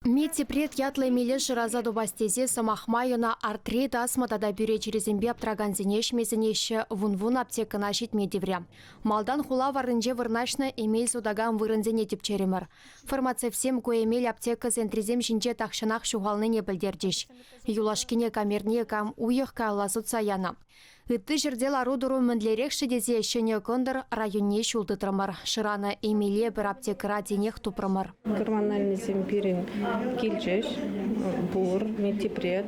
Медтепрет ятлӑ эмеле шыраса тупас тесе сӑмах май ӑна артри, тасма тата пӳре чирӗсемпе аптӑракансене ӗҫме-сӗнеҫҫӗ, вун-вун аптекӑна ҫитме тиврӗ. Малтан хула варринче вырнаҫнӑ эмел сутакан вырӑнсене тӗпчерӗмӗр. Фармацевтсем ку эмел аптека центрӗсем ҫинче тахҫанах ҫухалнине пӗлтерчӗҫ. Юлашкине камерне кам уйӑх каялла сутса янӑ. Ытти ҫӗрте лару-тӑру мӗнлерех-ши тесе Ҫӗнӗ Кӑнтӑр районне ҫул тытрӑмӑр. Шыранӑ эмеле пӗр аптекӑра тинех тупрӑмӑр. Гормональныйсем пирӗн килчӗҫ. Пур, нитипред,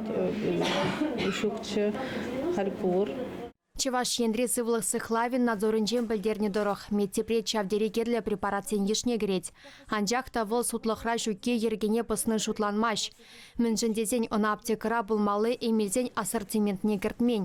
ҫукчӗ, халь пур. Чӑваш Енри сывлӑх сыхлавӗн надзорӗнчен пӗлтернӗ тӑрӑх, медтепрет ҫав тери кирлӗ препаратсен йышне кӗрет. Анчах та вӑл сутлӑхра ҫукки йӗркене пӑсни шутланмасть. Мӗншӗн тесен ӑна аптекӑра пулмалли эмелсен ассортиментне кӗртмен.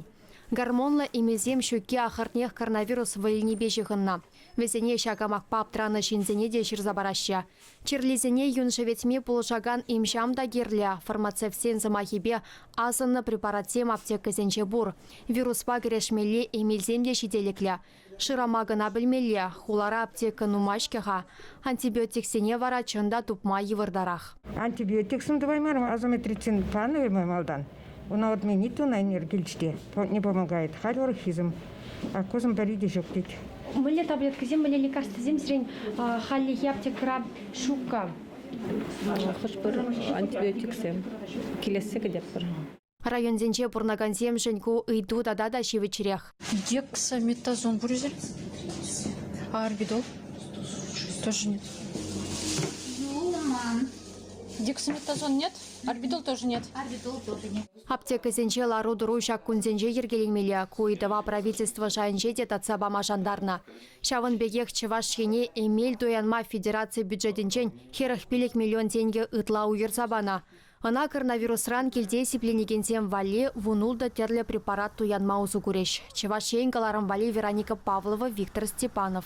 Гормонлӑ эмелсем ҫукки ахӑртнех коронавирус вӑйӗнипе ҫыхӑннӑ. Вӗсене ҫак амакпа аптранӑ ҫынсене те ҫырса параҫҫӗ. Чирлисене юн шӗветме пулӑшакан им-ҫам та кирлӗ. Фармацевтсен сӑмахӗпе, асӑннӑ препаратсем аптекӑсенче пур. Вируспа кӗрешмелли эмелсем те ҫителӗклӗ. Шырама кӑна пӗлмелле, хулара аптека нумай-ҫке-ха. Антибиотиксене вара чӑн та тупма йывӑртарах. Антибиотиксем тӑваймарӑм, азометрицин панӑ малтан. Ӑна вот мне ни тонна энергии килчӗ те, не помогает. Халь орхизм, аккозм пӗри те ҫук тет. Мӗнле таблеткӑсем, мӗнле лекарствӑсем сирӗн хальлӗхе аптекӑра ҫук-ха? Хӑш-пӗр антибиотиксем килессе кӗтетпӗр. Районсенче пурӑнакансемшӗн ку ыйту тата та ҫивӗчрех. Дек санитазон пур эсир? Орбитал? Тоже нет. Юлман. Дексаметазон нет? Орбитал тоже нет. Орбитал тоже нет. Аптекӑсенче лару-тӑру ҫак кунсенче йӗркеленмелле. Ку ыйтӑва правительство шайӗнче те татса пама шантарнӑ. Ҫавӑн пекех Чӑваш Ене эмел туянма федераци бюджетӗнчен хӗрӗх пилӗк миллион тенкӗ ытла уйӑрса панӑ. Ӑна коронавирусран килте сипленекенсем валли вунултӑ тӗрлӗ препарат туянма усӑ курӗҫ. Чӑваш Ен кӑларӑм валли Вероника Павлова, Виктор Степанов.